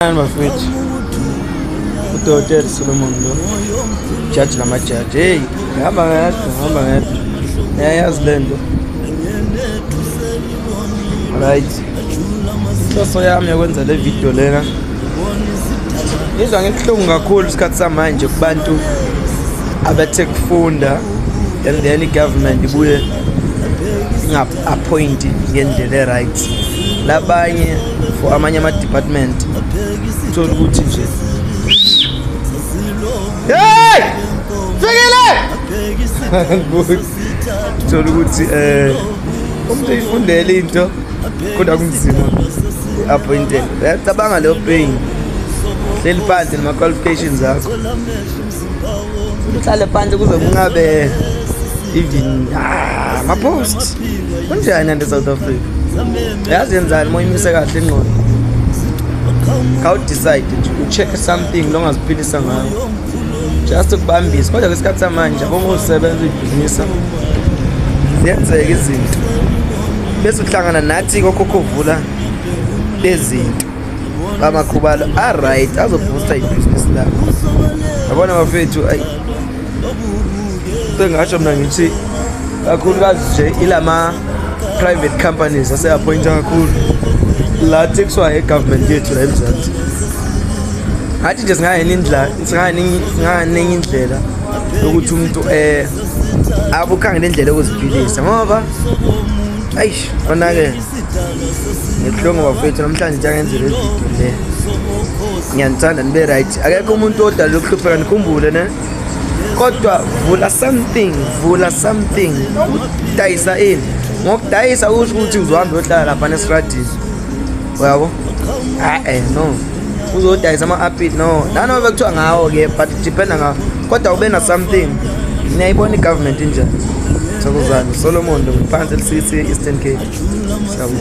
Nani bafethu udokotela Solomon lo jaji namajaji heyi ngihamba ngedwa ngihamba ngedwa yayazi le nto right inhloso yami yokwenza le video lena ngizwa ngibuhlungu kakhulu isikhathi samanje kubantu abathe kufunda and then i-government ibuye ingapha appoint ngendlela eright labanye for amanye ama department uthola ukuthi nje hey fikile uthola ukuthi eh umuntu uyifundela into kodwa kunzima appointed uyacabanga leyo pain hleli phansi nama qualifications akho uhlale phansi kuze kungabe even ah, mapost kunjani ande south africa yazi yenzani moyimise kahle ingqondo khawudecide nje ucheck something longaziphilisa ngayo just ukubambisa kodwa kwesikhathi samanje abongosebenza uyibhizinisa ziyenzeka izinto bese uhlangana nathi kokhokhovula bezinto amakhubalo aright azobhusta ibhizinisi lakho yabona bafethu ayi sengasho mna ngithi kakhulukazi nje ilama private companies aseappointa kakhulu la tekuswa egovernment yethu la emzansi ngathi nje singayenenye indlela yokuthi umuntu um eh, abukhangele indlela yokuziphilisa ngoba ayish onakele ngibuhlungu bafethu namhlanje nje angenzela ividiyo le ngiyanithanda nibe right akekho umuntu odalele ukuhlupheka nikhumbule ne kodwa vula something vula something udayisa ini ngokudayisa usho ukuthi uzohambe uyohlala lapha nesradini uyabo a-e no uzodayisa ama-apit no nanobe kuthiwa ngawo-ke but dependa ngawo kodwa ube na something niyayibona i-government injani thokozane solomon phansi elisisi eastern cape siyabona